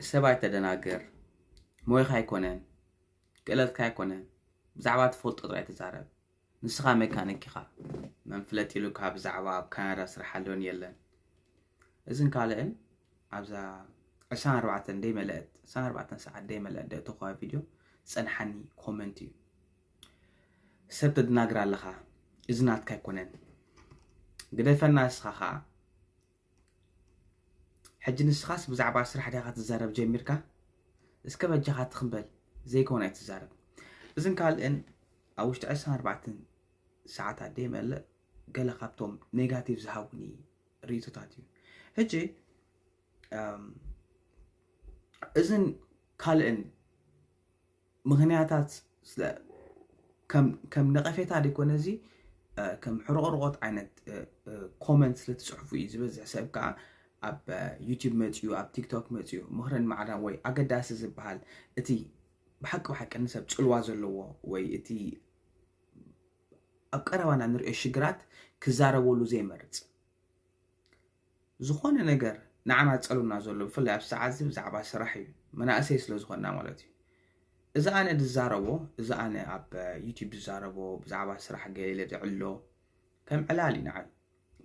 ሰብ ኣይተደናግር ሞያኻ ኣይኮነን ክእለትካ ኣይኮነን ብዛዕባ ትፈልጦ ጥራይ ተዛረብ ንስኻ መካኒክ ኢኻ መን ፍለጥ ኢሉካ ብዛዕባ ኣብ ካናዳ ስራሕ ኣሎን የለን እዝን ካልእን ኣብዛ ዕስራን ኣርባዕተን ደይመለአት ዕስራን ኣርባዕተን ሰዓት ደይመለአት ደእተኸዋ ቪድዮ ዝጸንሓኒ ኮመንት እዩ ሰብ ተደናግር ኣለኻ እዚ ናትካ ኣይኮነን ግደፈና ንስኻ ኸዓ ሕጂ ንስኻስ ብዛዕባ ስራሕ ዲኻ ትዛረብ ጀሚርካ እስከ በጃኻ ትኽን በል ዘይኮን ኣይትዛረብ እዝን ካልእን ኣብ ውሽጢ ዕስራን ኣርባዕተን ሰዓት ኣደ ይመልእ ገለ ካብቶም ኔጋቲቭ ዝሃቡኒ ርእቶታት እዩ ሕጂ እዝን ካልእን ምኽንያታት ስለ ከም ነቐፌታ ዘይኮነ እዚ ከም ሕርቕርቖት ዓይነት ኮመንት ስለ ትፅሕፉ እዩ ዝበዝሕ ሰብ ከዓ ኣብ ዩቲዩብ መፅኡ ኣብ ቲክቶክ መፅኡ ምኽርን ማዕዳን ወይ ኣገዳሲ ዝበሃል እቲ ብሓቂ ብሓቂ ንሰብ ፅልዋ ዘለዎ ወይ እቲ ኣብ ቀረባና ንሪኦ ሽግራት ክዛረበሉ ዘይመርፅ ዝኾነ ነገር ንዓና ዝጸልውና ዘሎ ብፍላይ ኣብዚ ሰዓት እዚ ብዛዕባ ስራሕ እዩ መናእሰይ ስለ ዝኾንና ማለት እዩ እዚ ኣነ ዝዛረቦ እዚ ኣነ ኣብ ዩቲብ ዝዛረቦ ብዛዕባ ስራሕ ገለ ኢለ ዝዕሎ ከም ዕላል እዩ ንዓይ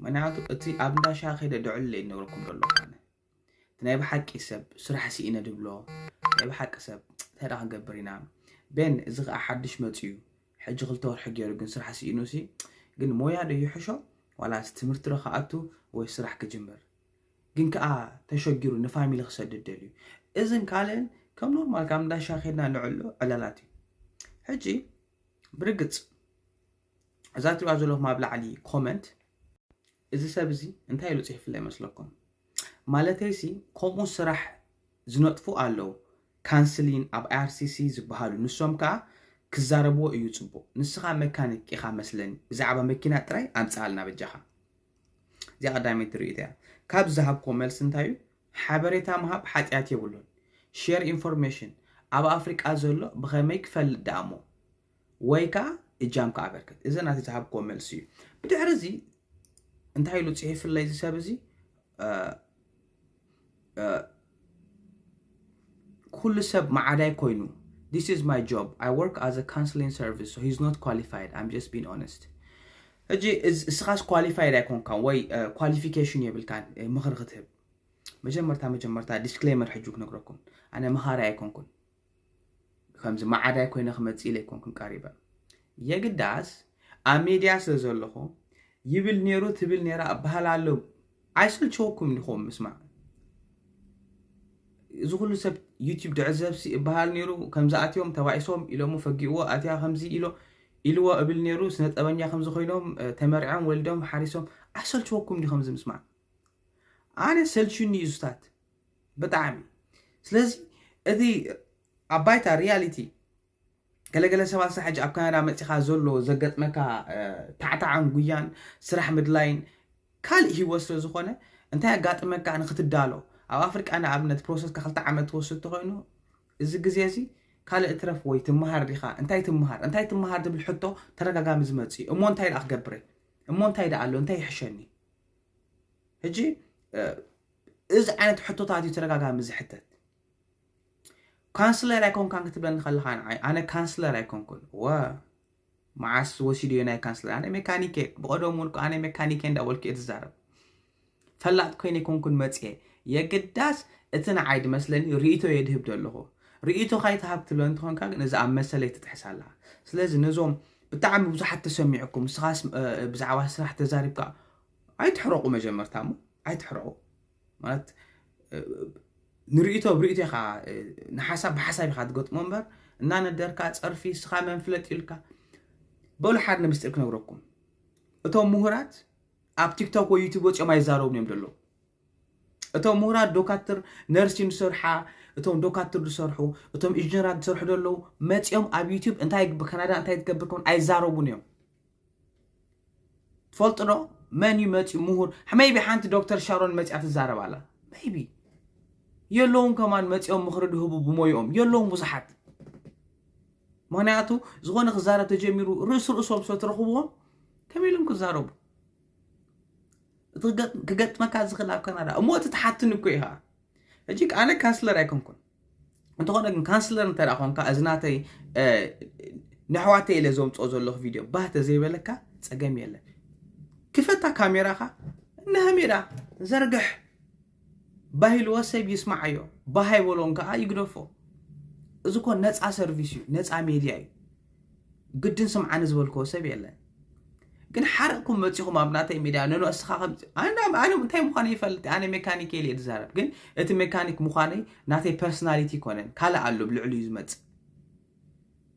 ምክንያቱ እቲ ኣብ እንዳሻ ከይደ ድዕሎ እዩ ዝነግረኩም ዘሎ ኣነ እቲ ናይ ብሓቂ ሰብ ስራሕ ስኢነ ድብሎ ናይ ብሓቂ ሰብ እንታይ ዳ ክንገብር ኢና ቤን እዚ ከዓ ሓድሽ መፅኡ እዩ ሕጂ ክልተ ወርሒ ጌሩ ግን ስራሕ ስኢኑሲ ግን ሞያ ዶ ይሕሾ ዋላስ ትምህርቲ ዶ ክኣቱ ወይ ስራሕ ክጅምር ግን ከኣ ተሸጊሩ ንፋሚሊ ክሰድድ ደልዩ እዝን ካልእን ከም ኖርማል ካብ እንዳሻ ኬድና ንዕሉ ዕላላት እዩ ሕጂ ብርግጽ እዛ ትሪኣ ዘለኹም ኣብ ላዕሊ ኮመንት እዚ ሰብ እዚ እንታይ ኢሉ ጺሒፍላ ይመስለኩም ማለተይ ሲ ከምኡ ስራሕ ዝነጥፉ ኣለው ካንስሊን ኣብ IRCC ዝብሃሉ ንሶም ከኣ ክዛረብዎ እዩ ጽቡቅ ንስኻ መካኒክ ኢኻ መስለኒ ብዛዕባ መኪና ጥራይ ኣምጽኣልና በጃኻ እዚኣ ቀዳመይቲ ርእይቶይ እያ ካብ ዝሃብክዎ መልሲ እንታይ እዩ ሓበሬታ ምሃብ ሓጥያት የብሉን ሼር ኢንፎርሜሽን ኣብ ኣፍሪቃ ዘሎ ብኸመይ ክፈልጥ ደኣሞ ወይ ከኣ እጃምካ ኣበርክት። እዚ ናተይ ዝሃብክዎ መልሲ እዩ። ብድሕሪ እዚ እንታይ ኢሉ ጽሒፍለይ እዚ ሰብ እዚ ኩሉ ሰብ ማዓዳይ ኮይኑ this is my job I work as a counseling service so he's not qualified I'm just being honest ሕጂ እስኻስ ኳሊፋይድ ኣይኮንካን ወይ ኳሊፊኬሽን የብልካን ምኽሪ ክትህብ መጀመርታ መጀመርታ ዲስክሌመር ሕጂ ክነግረኩም ኣነ መኻሪ ኣይኮንኩን ከምዚ ማዓዳይ ኮይነ ክመፅእ ኢለ ኣይኮንኩን ቀሪበ የግዳስ ኣብ ሚድያ ስለ ዘለኹ ይብል ነይሩ ትብል ነይራ እባሃል ኣሎ ኣይሰልቸወኩም ዲኹም ምስማዕ እዚ ኩሉ ሰብ ዩቲብ ድዕዘብሲ እባሃል ነይሩ ከምዚ ኣትዮም ተባኢሶም ኢሎሞ ፈጊእዎ ኣትያ ከምዚ ኢሎ ኢልዎ እብል ነይሩ ስነ ጠበኛ ከምዚ ኮይኖም ተመርዖም ወልዶም ሓሪሶም ኣይሰልቸወኩም ዲኹም እዚ ምስማዕ ኣነ ሰልችዩኒ እዩ ሱታት ብጣዕሚ ስለዚ እቲ ኣብ ባይታ ሪያሊቲ ገለገለ ሰባት ሳ ሕጂ ኣብ ካናዳ መፂኻ ዘሎ ዘገጥመካ ታዕታዕን ጉያን ስራሕ ምድላይን ካልእ ሂወት ስለ ዝኾነ እንታይ ኣጋጥመካ ንክትዳሎ ኣብ ኣፍሪቃ ንኣብነት ፕሮሰስካ ክልተ ዓመት ትወስድ ተኮይኑ እዚ ግዜ እዚ ካልእ ትረፍ ወይ ትምሃር ዲኻ እንታይ ትምሃር እንታይ ትምሃር ትብል ሕቶ ተደጋጋሚ ዝመፅእ እሞ እንታይ ደኣ ክገብረ እሞ እንታይ ደኣ ኣሎ እንታይ ይሕሸኒ ሕጂ እዚ ዓይነት ሕቶታት እዩ ተደጋጋሚ ዝሕተት። ካንስለር ኣይኮንካን ክትብለኒ ከለኻ ንዓይ ኣነ ካንስለር ኣይኮንኩን ወ መዓስ ወሲድዮ ናይ ካንስለር ኣነ ሜካኒክ እየ ብቐደሙ እውን እኮ ኣነ ሜካኒክ እየ እንዳበልኩ እየ ዝዛረብ ፈላጥ ኮይነ ኣይኮንኩን መፅኤ የግዳስ እቲ ንዓይ ድመስለኒ ርእቶ እየ ድህብ ዘለኹ ርእቶ ካይትሃብ ክትብለ እንትኾንካ ግን እዚ ኣብ መሰለይ ትጥሕስ ኣላ ስለዚ ነዞም ብጣዕሚ ብዙሓት ተሰሚዑኩም ንስኻስ እ፣ ብዛዕባ ስራሕ ተዛሪብካ ኣይትሕረቑ መጀመርታ እሞ ኣይትሕረቑ ማለት ንርእቶ ብርእቶ ኢኻ ንሓሳብ ብሓሳብ ኢኻ ትገጥሞ እምበር እናነደርካ ፀርፊ ስኻ መንፍለጥ ኢልካ በሉ ሓደ ንምስጢር ክነግረኩም እቶም ምሁራት ኣብ ቲክቶክ ወይ ዩቱብ ወፂኦም ኣይዛረቡን እዮም ዘለዉ እቶም ምሁራት ዶካትር ነርሲን ዝሰርሓ እቶም ዶካትር ዝሰርሑ እቶም ኢንጂነራት ዝሰርሑ ዘለዉ መፂኦም ኣብ ዩቱብ እንታይ ብካናዳ እንታይ ትገብር ከም ኣይዛረቡን እዮም ትፈልጡ ዶ መን እዩ መፅዩ ምሁር መይቢ ሓንቲ ዶክተር ሻሮን መፅያ ትዛረብ ኣላ መይቢ የለውን ከማን መፅኦም ምኽሪ ድህቡ ብሞይኦም የለውን ብዙሓት ምክንያቱ ዝኾነ ክዛረብ ተጀሚሩ ርእሲ ርእሶም ስለ ትረኽብዎም ከመይ ኢሎም ክዛረቡ እቲ ክገጥ- ክገጥመካ ዝኽእል ኣብ ካናዳ እሞ እቲ ትሓትኒ እኮ ኢኻ ሕጂ ኣነ ካንስለር ኣይኮንኩን እንተኾነ ግን ካንስለር እንተ ኮንካ እዚ ናተይ ነሕዋተይ ኢለ ዘምፅኦ ዘለኹ ቪድዮ ባህ ተዘይበለካ ፀገም የለን ክፈታ ካሜራኻ ንሃሜዳ ዘርግሕ ባህ ኢልዎ ሰብ ይስማዓዮ ባህ ኣይበሎን ከዓ ይግደፎ እዚ ኮ ነፃ ሰርቪስ እዩ ነፃ ሜድያ እዩ ግድን ስምዓኒ ዝበልክዎ ሰብ የለን ግን ሓርቕኩም መፂኹም ኣብ ናተይ ሚድያ ኖኖ እስኻ ከም ኣነ ኣነ እንታይ ምዃነይ ይፈልጥ ኣነ ሜካኒክ ኢለ እየ ዝዛረብ ግን እቲ ሜካኒክ ምዃነይ ናተይ ፐርሶናሊቲ ኣይኮነን ካልእ ኣሎ ብልዕሉ እዩ ዝመፅእ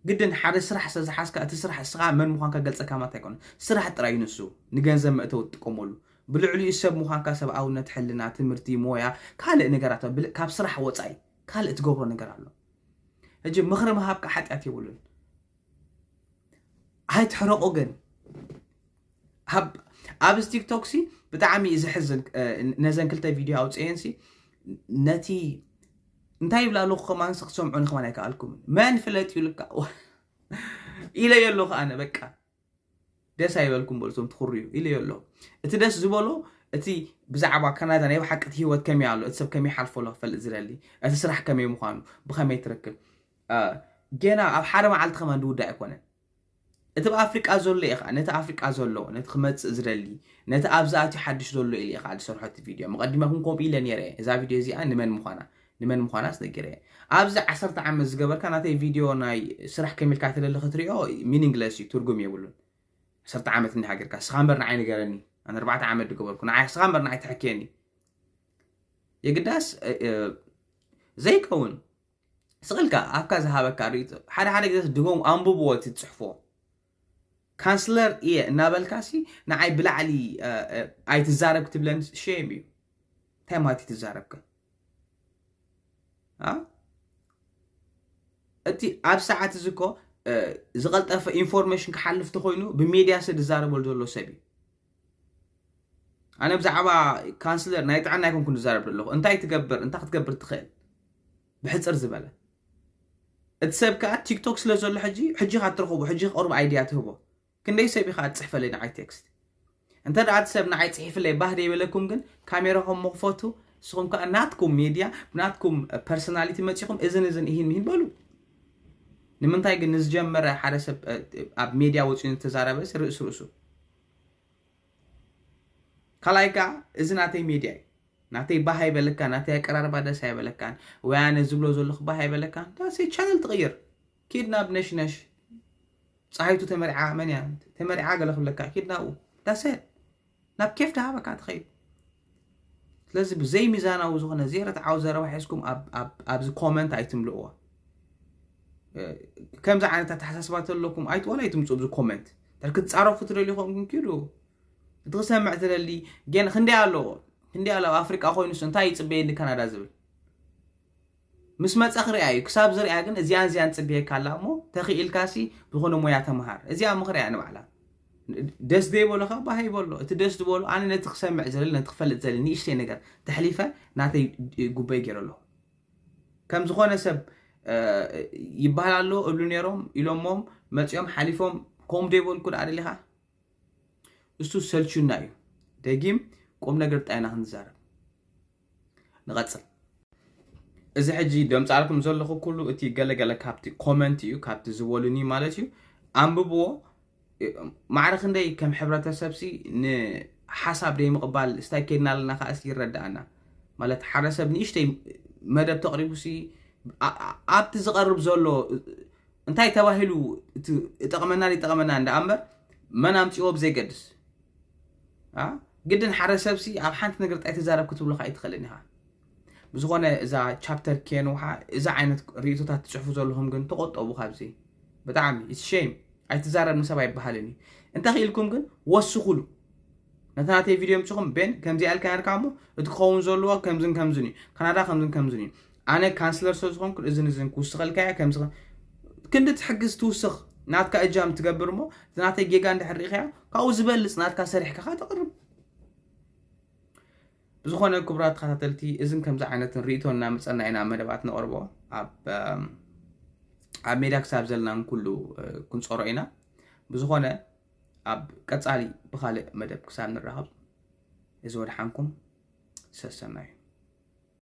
ግድን ሓደ ስራሕ ስለ ዝሓዝካ እቲ ስራሕ እስኻ መን ምዃንካ ገልፀካ ማለት ኣይኮነን ስራሕ ጥራይ እዩ ንሱ ንገንዘብ መእተዊ ትጥቀመሉ ብልዕሊኡ ሰብ ምዃንካ ሰብኣውነት ሕልና ትምህርቲ ሞያ ካልእ ነገራት ኣሎ። ብል- ካብ ስራሕ ወፃኢ ካልእ ትገብሮ ነገር ኣሎ ሕጂ ምኽሪ ምሃብካ ሓጢኣት የብሉን ኣይትሕረቁ ግን ኣብዚ ቲክቶክ ሲ ብጣዕሚ እዩ ዘሕዝን ነዘን ክልተ ቪድዮ ኣውፅኤን ሲ ነቲ እንታይ ይብላ ኣለኹ ከማን ሲ ክትሰምዑኒ ከማን ኣይከኣልኩምን መን ፍለጥ እዩ ልካ ኢለዮ ኣለኹ ኣነ በቃ ደስ ኣይበልኩም በሉ እቶም ትኹርዩ ኢለዮ ኣለኹ እቲ ደስ ዝበሎ እቲ ብዛዕባ ካናዳ ናይ ብሓቂ እቲ ሂወት ከመይ ኣሎ እቲ ሰብ ከመይ ሓልፎ ኣሎ ክፈልጥ ዝደሊ እቲ ስራሕ ከመይ ምዃኑ ብኸመይ ትርክብ ኣእ ጌና ኣብ ሓደ መዓልቲ ከማን ድውዳእ ኣይኮነን እቲ ብ ኣፍሪቃ ዘሎ ኢየ ከኣ ነቲ ኣፍሪቃ ዘሎ ነቲ ክመጽእ ዝደሊ ነቲ ኣብዚ ኣትዩ ሓድሽ ዘሎ ኢለ ኢየ ከኣ ዝሰርሖ እቲ ቪድዮ መቀዲመኩም ከምኡ ኢለ ኔረ ኢየ እዛ ቪድዮ እዚኣ ንመን ምኳና ንመን ምኳናስ ነጊረ ኢየ ኣብዚ ዓሰርተ ዓመት ዝገበርካ ናተይ ቪድዮ ናይ ስራሕ ከም ኢልካ ተለሊ ክትሪኦ ሚኒንግለስ ኢዩ ትርጉም የብሉን ዓሰርተ ዓመት እንዲሃ ጌርካ እስኻ እምበር ንዓይ ንገረኒ ኣነ ኣርባዕተ ዓመት ድገበርኩ ንዓይ እስኻ እምበር ንዓይ ተሐክየኒ የግዳስ ዘይከውን ስቅ ኢልካ ኣፍካ ዝሃበካ ሪኢቶ ሓደ ሓደ ግዜ ድገሙ ኣንብብዎ እቲ ትጽሕፎ ካንስለር እየ እናበልካሲ ንዓይ ብላዕሊ ኣይትዛረብ ክትብለን ሸም እዩ እንታይ ማለት እዩ ትዛረብከ እቲ ኣብ ሰዓት እዚ እኮ ዝቐልጠፈ ኢንፎርሜሽን ክሓልፍ ተኮይኑ ብሜድያ ሰብ ዝዛረበሉ ዘሎ ሰብ እዩ ኣነ ብዛዕባ ካንስለር ናይ ጥዕና ኣይኮንኩን ዝዛረብ ዘለኹ እንታይ ትገብር እንታይ ክትገብር ትኽእል ብሕፅር ዝበለ እቲ ሰብ ከዓ ቲክቶክ ስለ ዘሎ ሕጂ ሕጂ ካ ትረኽቦ ሕጂ ክቐርቡ ኣይድያ ትህቦ ክንደይ ሰብ ኢኻ ትፅሕፈለይ ንዓይ ቴክስት እንተ ደኣ እቲ ሰብ ንዓይ ፅሒፍለይ ባህ ደይበለኩም ግን ካሜራኹም ምኽፈቱ ንስኹም ከዓ ናትኩም ሚድያ ብናትኩም ፐርሶናሊቲ መፂኹም እዝን እዝን እሂን ምሂን በሉ ንምንታይ ግን ንዝጀመረ ሓደ ሰብ ኣብ ሜድያ ወፂኡ ዝተዛረበ ርእሲ ርእሱ ካልኣይ ከዓ እዚ ናተይ ሜድያ እዩ ናተይ ባህ ኣይበለካ ናተይ ኣቀራርባ ደስ ኣይበለካን ወይ ኣነ ዝብሎ ዘለኹ ባህ ኣይበለካን ዳሰይ ቻነል ትቕይር ኪድ ናብ ነሽነሽ ፀሃይቱ ተመርዓ መን እያ ተመርዓ ገለ ክብለካ ኪድ ናብኡ ዳሰ ናብ ኬፍ ድሃበካ ትኸይድ ስለዚ ብዘይ ሚዛናዊ ዝኾነ ዘይርትዓዊ ዘረባ ሒዝኩም ኣብዚ ኮመንት ኣይትምልእዋ ከምዚ ዓይነት ኣተሓሳስባ ተለኩም ኣይት ዋላ ኣይትምፁ ኣብዚ ኮመንት እንተ ክትፃረፉ ትደልዩ ኮንኩም ኪዱ እቲ ክሰምዕ ትደሊ ግን ክንደይ ኣለዎ ክንደይ ኣሎ ኣብ ኣፍሪቃ ኮይኑስ እንታይ ይፅበየኒ ካናዳ ዝብል ምስ መጸ ክሪኣ ኢዩ ክሳብ ዝሪኣ ግን እዚኣን እዚኣን ትጽብየካ ኣላ እሞ ተኺኢልካሲ ዝኮነ ሞያ ተማሃር እዚኣ እሞ ክሪኣ ንባዕላ ደስ ዘይበሎ ከ ባህ ይበሎ እቲ ደስ ዝበሎ ኣነ ነቲ ክሰምዕ ዝደሊ ነቲ ክፈልጥ ዝደሊ ንእሽተይ ነገር ተሕሊፈ ናተይ ጉበይ ገይረ ኣለኹ ከም ዝኾነ ሰብ ይበሃል ኣሎ እብሉ ነይሮም ኢሎሞም መጺኦም ሓሊፎም ከምኡ ዶ ይበልኩ ደኣ ደሊኻ እሱ ሰልቹና እዩ ደጊም ቁም ነገር ጣይና ክንዛረብ ንቐጽል እዚ ሕጂ ደምጻልኩም ዘለኹ ኩሉ እቲ ገለገለ ካብቲ ኮመንት እዩ ካብቲ ዝበሉኒ ማለት እዩ ኣንብብዎ ማዕረ ክንደይ ከም ሕብረተሰብ ሲ ንሓሳብ ዘይምቕባል ስታይ ከድና ኣለና ከዓ እስኪ ይረዳኣና ማለት ሓደ ሰብ ንእሽተይ መደብ ተቕሪቡ ሲ ኣብቲ ዝቐርብ ዘሎ እንታይ ተባሂሉ እጠቕመና ይጠቕመና እንዳ እምበር መን ኣምፅዎ ብዘይገድስ ግድን ሓደ ሰብሲ ኣብ ሓንቲ ነገር ጥራይ ተዛረብ ክትብሉካ ኣይትኽእልን ኢኻ ብዝኾነ እዛ ቻፕተር ኬንውሓ እዚ ዓይነት ርእቶታት ትፅሕፉ ዘለኹም ግን ተቆጠቡ ካብዚ ብጣዕሚ ሸም ኣይትዛረብ ንሰብ ኣይበሃልን እዩ እንታይ ክኢልኩም ግን ወስኹሉ ነታ ናተይ ቪድዮ ምፅኹም ቤን ከምዚ ኣልካ ነርካ እሞ እቲ ክኸውን ዘለዎ ከምዝን ከምዝን እዩ ካናዳ ከምዝን ከምዝን እዩ ኣነ ካንስለር ስለ ዝኾንኩ እዝን እዝን ክውስኸልካ እያ ከምዚ ከ- ክንዲ ትሕግዝ ትውስኽ ናትካ እጃም ትገብር እሞ እቲ ናተይ ጌጋ እንድሕር ርኢኻዮ ካብኡ ዝበልፅ ናትካ ሰሪሕካ ካ ተቕርብ ብዝኾነ ክቡራት ተኸታተልቲ እዝን ከምዚ ዓይነትን ርእቶ እናመፀና ኢና መደባት ነቕርቦ ኣብ ኣም፣ ኣብ ሜዳ ክሳብ ዘለና ንኩሉ እ፣ ክንፀሮ ኢና ብዝኾነ ኣብ ቀፃሊ ብካልእ መደብ ክሳብ ንራኸብ እዚ ወድሓንኩም ሰሰናዩ